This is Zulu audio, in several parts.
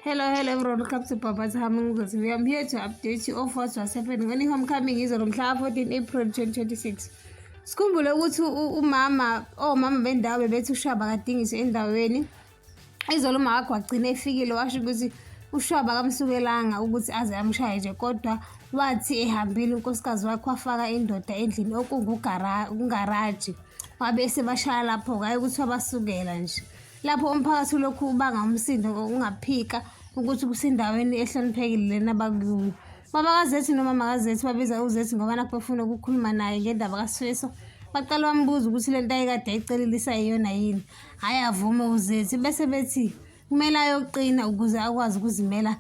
Hello, hello everyone, welcome to Papa's Humming Books. We are here to update you of what was happening when homecoming is on mhla 14 April 2026. Sikhumbule ukuthi umama omama oh, bendawo bebethi ushaba kadingiswe endaweni. Izolo uma wakho wagcina efikile washo ukuthi ushaba kamsukelanga ukuthi aze amshaye nje kodwa wathi ehambile unkosikazi wakhe wafaka indoda endlini okungugaraji wabe sebashaya lapho-ke ayi ukuthi wabasukela nje lapho umphakathi ulokhu ubanga umsindo ngokungaphika ukuthi kusendaweni ehloniphekile lena abakuyo baba kazethi noma makazethi babiza uzethi ngoba nakho befuna ukukhuluma naye ngendaba kasweso baqala bambuza ukuthi le nto ayekade ayicelelisa iyona yini hhayi avume uzethi bese bethi kumele ayoqina ukuze akwazi ukuzimela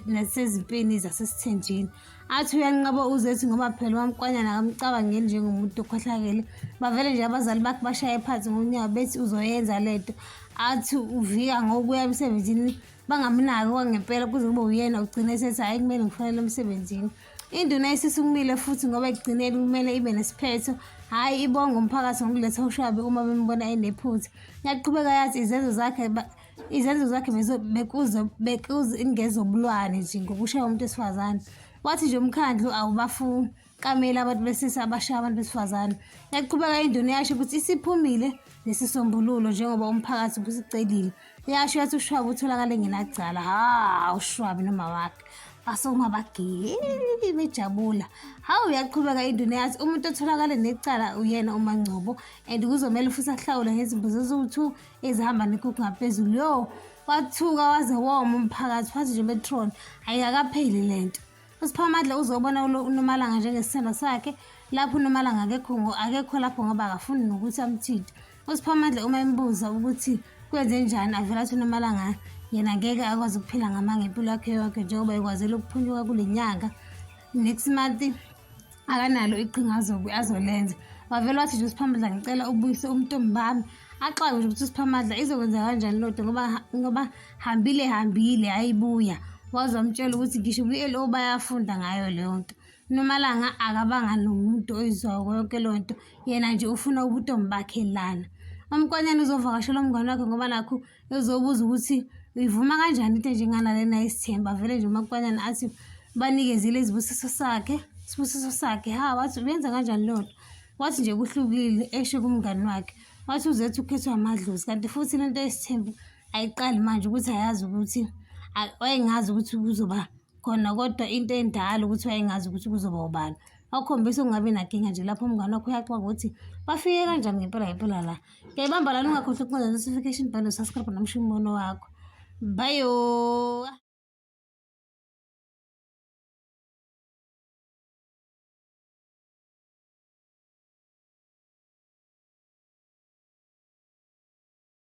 nasezimpini zasesithenjini athi uyanqaba uzethi ngoba phela wamkwanyana akamcabangeli njengomuntu okhohlakele bavele nje abazali bakhe bashaye phansi ngonyawo bethi uzoyenza le nto athi uvika ngokuya emsebenzini bangamnaki kwangempela kuze kube uyena ugcina esethi hhayi kumele ngifanele emsebenzini induna isisukumile futhi ngoba ekugcineni kumele ibe nesiphetho hhayi ibonga umphakathi ngokuletha ushwabe uma bembona enephutha yaqhubeka yathi izenzo zakhe izenzo zakhe bekuzingezobulwane nje ngokushaya umuntu wesifazane wathi nje umkhandlu awubafuni kamele abantu besisa abashaya abantu besifazane yaqhubeka induna yasho ukuthi isiphumile nesisombululo njengoba umphakathi ubusicelile yasho yathi ushwabi utholakale ngenacala ha ushwabi noma wakhe basongabagili bejabula hawu uyaqhubeka induna yathi umuntu otholakale necala uyena umangcobo and kuzomele futhi ahlawule ngezimbuzo eziwu-two ezihamba nekuku ngaphezulu yo wathuka waze woma umphakathi wathi nje metron ayikakapheli le nto usiphamadla uzobona unomalanga njengesithando sakhe lapho unomalanga akekho akekho lapho ngoba akafuni nokuthi amthinte usiphamadla uma embuza ukuthi kwenze njani avela athi unomalanga yena ngeke akwazi ukuphila ngamanga impilo yakhe yonke njengoba ekwazile ukuphunyuka kule nyanga next month akanalo iqhinga azobe azolenza wavele wathi nje usiphamadla ngicela ubuyise umntombi bami axake nje ukuthi usiphamadla izokwenza kanjani lodwa ngoba ngoba hambile hambile ayibuya waze wamtshela ukuthi ngisho kwi-lo bayafunda ngayo leyo nto nomalanga akabanga nomuntu oyizwayo konke leyo nto yena nje ufuna ubuntombi bakhe lana umkonyana uzovakashela umngane wakhe ngoba nakho ezobuza ukuthi uyivuma kanjani into enjengana lena isithemba vele nje umakwanyana athi banikezile izibusiso sakhe isibusiso sakhe ha wathi uyenza kanjani leyo nto wathi nje kuhlukile esho kumngani wakhe wathi uzethu ukhethwa amadlozi kanti futhi le nto yesithembu ayiqali manje ukuthi ayazi ukuthi wayengazi ukuthi kuzoba khona kodwa into endala ukuthi wayengazi ukuthi kuzoba ubani wakhombisa ukungabi nakinga nje lapho umngane wakho uyaxoka ukuthi bafike kanjani ngempela ngempela la Ngiyayibamba lana ungakhohlwa ukuncela notification bell subscribe nomusho umbono wakho. Bye.